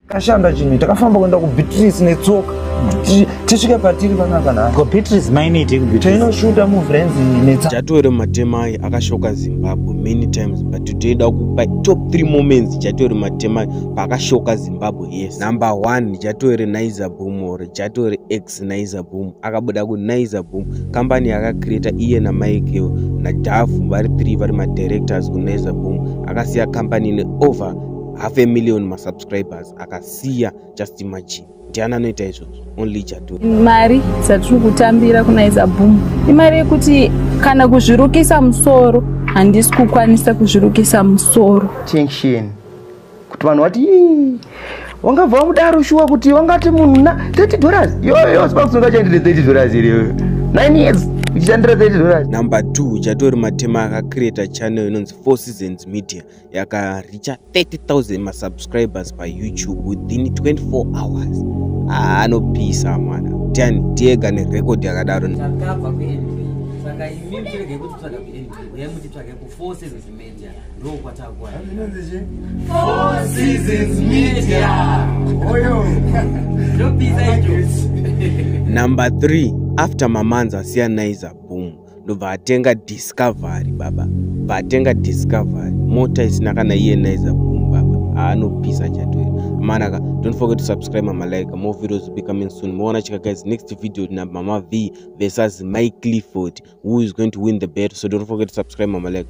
Kashanda chini takafamba kuenda ku Beatrice netsoka tisvika patiri panaka na ko Beatrice mainiti ku Beatrice tino shooter mu friends netsa Jatwere Matemai akashoka Zimbabwe many times but today da kupa top 3 moments Jatwere Matemai pakashoka Zimbabwe yes number 1 Jatwere Naiza Boom or Jatwere X Naiza Boom akabuda ku Naiza Boom company yaka create iye na Mike na Dafu vari 3 vari ma directors ku Naiza Boom akasiya company ne over half a million masubscribers akasiya just imagine ndiani anoita izvozvo only jadu mari dzatiri kutambira kunaiza boom imari yekuti kana kuzvirukisa musoro handisi kukwanisa kuzvirukisa musoro tension kuti vanhu vati wangabva wamudaro shuwa kuti wangati munhu na 30 dollars yoyo sipakusunga chaendere 30 dollars iriyo 9 years uchishandira 30 dollars number 2 uchatori matema akacreata channel inonzi four seasons media yakareacha 30000 masubscribers payoutube within 24 hours ah, anopisa mwana tiani tiega nerecord yakadaro takabva kuendwi saka imi muchirege kuti tsvaga kuendwi uye mutitsvage kufour seasons media ndo kwatakuwa ndopisa icho number 3 after mamanza siyanaiza boom ndobva atenga discovery baba bva atenga discovery mota isina kana iye naiza boom baba aanopisa chatoira manaka don't forget to subscribe mama like more videos be coming soon moona chika guys next video na mama v versus mike clifford who is going to win the battle so don't forget to subscribe mama like